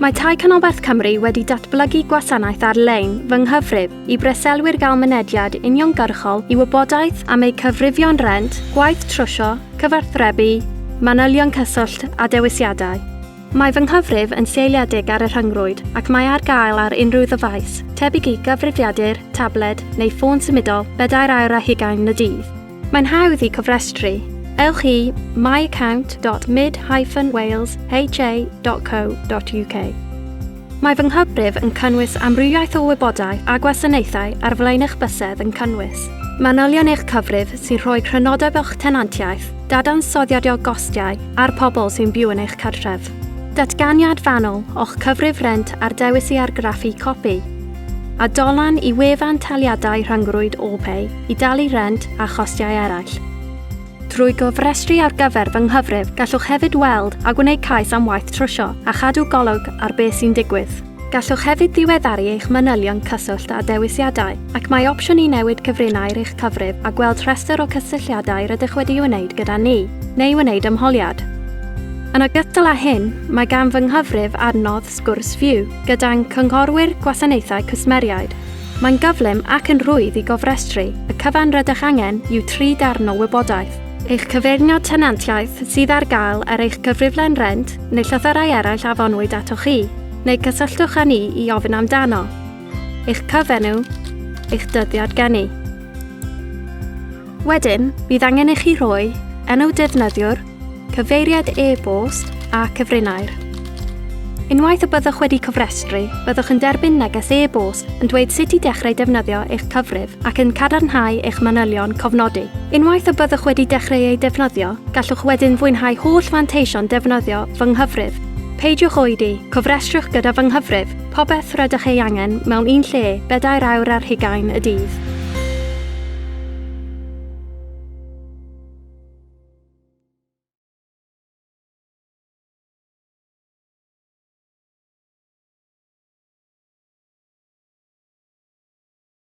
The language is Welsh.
Mae Tai Canolbarth Cymru wedi datblygu gwasanaeth ar-lein fy nghyfrif i breselwyr gael mynediad uniongyrchol i wybodaeth am eu cyfrifion rent, gwaith trwsio, cyfathrebu, manylion cyswllt a dewisiadau. Mae fy nghyfrif yn seiliedig ar y rhyngrwyd ac mae ar gael ar unrhyw ddyfais, tebyg i gyfrifiadur, tabled neu ffôn symudol, bedair awr a hugain y dydd. Mae'n hawdd i cofrestru. Ewch i myaccount.mid-walesha.co.uk Mae fy nghyfrif yn cynnwys amrywiaeth o wybodaeth a gwasanaethau ar flaen eich bysedd yn cynnwys manylion eich cyfrif sy'n rhoi crynodeb o'ch tenantiaeth, dadansoddiad o gostiau a'r pobl sy'n byw yn eich cartref. Datganiad fanwl o'ch cyfrif rent a'r dewis i argraffu copi. a dolen i wefan Taliadau Rhyngrwyd OPay i dalu rhent a chostiau eraill. Trwy gofrestru ar gyfer fy nghyfrif gallwch hefyd weld a gwneud cais am waith trwsio a chadw golwg ar beth sy'n digwydd. Gallwch hefyd ddiweddaru eich manylion cyswllt a dewisiadau, ac mae opsiwn i newid cyfrinau ar eich cyfrif a gweld rhestr o cysylltiadau rydych wedi'u wneud gyda ni, neu wneud ymholiad. Yn ogystal â hyn, mae gan fy nghyfrif adnodd Sgwrs Fyw gyda'n Cynghorwyr Gwasanaethau Cwsmeriaid. Mae'n gyflym ac yn rhwydd i gofrestru, y cyfan rydych angen yw tri darn o wybodaeth, eich cyfeirnod tenantiaeth sydd ar gael ar eich cyfriflen rent neu llythyrau eraill a fonwyd atoch chi, neu cysylltwch â ni i ofyn amdano, eich cyfenw, eich dyddiad geni. Wedyn, bydd angen i chi rhoi enw defnyddiwr, cyfeiriad e-bost a cyfrinair. Unwaith y byddwch wedi cofrestru, byddwch yn derbyn neges e-bost yn dweud sut i dechrau defnyddio eich cyfrif ac yn cadarnhau eich manylion cofnodi. Unwaith y byddwch wedi dechrau ei defnyddio, gallwch wedyn fwynhau holl fanteision defnyddio Fy Nghyfrif. Peidiwch oedi, cofrestriwch gyda Fy Nghyfrif! Popeth rydych ei angen mewn un lle, bedair awr ar hugain y dydd.